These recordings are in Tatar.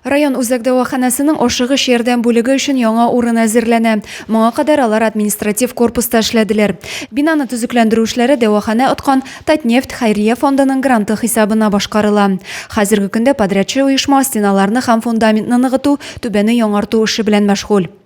Район үзәк дәваханәсенең ашыгыч ярдәм бүлеге өчен яңа урын әзерләнә. Моңа кадәр алар административ корпуста эшләделәр. Бинаны төзекләндерү эшләре дәваханә откан Татнефть хәйрия фондының гранты хисабына башкарыла. Хәзерге көндә подрядчы оешма стеналарны һәм фундаментны ныгыту, түбәне яңарту эше белән мәшгуль.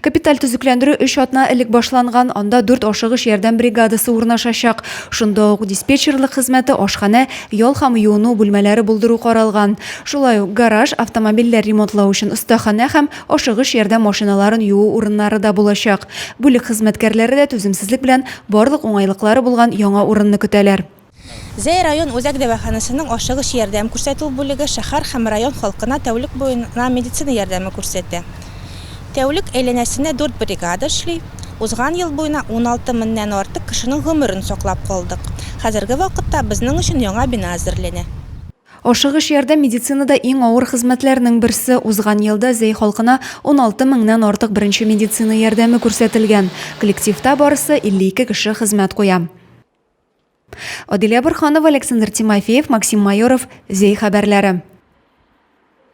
Капиталь төзекләндерү өч атна элек башланган, анда дүрт ашыгыч ярдәм бригадасы урнашачак. Шунда ук диспетчерлык хезмәте, ашханә, ял һәм юыну бүлмәләре булдыру каралган. Шулай ук гараж, автомобильләр ремонтлау өчен остаханә һәм ашыгыч ярдәм машиналарын юу урыннары да булачак. Бүлек хезмәткәрләре дә түземсезлек белән барлык уңайлыклары булган яңа урынны көтәләр. Зәй район үзәк дәваханәсенең ашыгыч ярдәм күрсәтү бүлеге шәһәр һәм район халкына тәүлек буена медицина ярдәме күрсәтә. Тәүлек әйләнәсенә дүрт бригада эшли. Узган ел буена уналты меңнән артык кешенең гомерен саклап калдык. Хәзерге вакытта безнең өчен яңа бина әзерләнә. Ашыгыч ярдәм медицинада иң авыр хезмәтләрнең берсе. Узган елда Зәй халкына уналты меңнән артык беренче медицина ярдәме күрсәтелгән. Коллективта барысы 52 кеше хезмәт куя. Адилә Борханова, Александр Тимофеев, Максим Майоров, Зей хәбәрләре.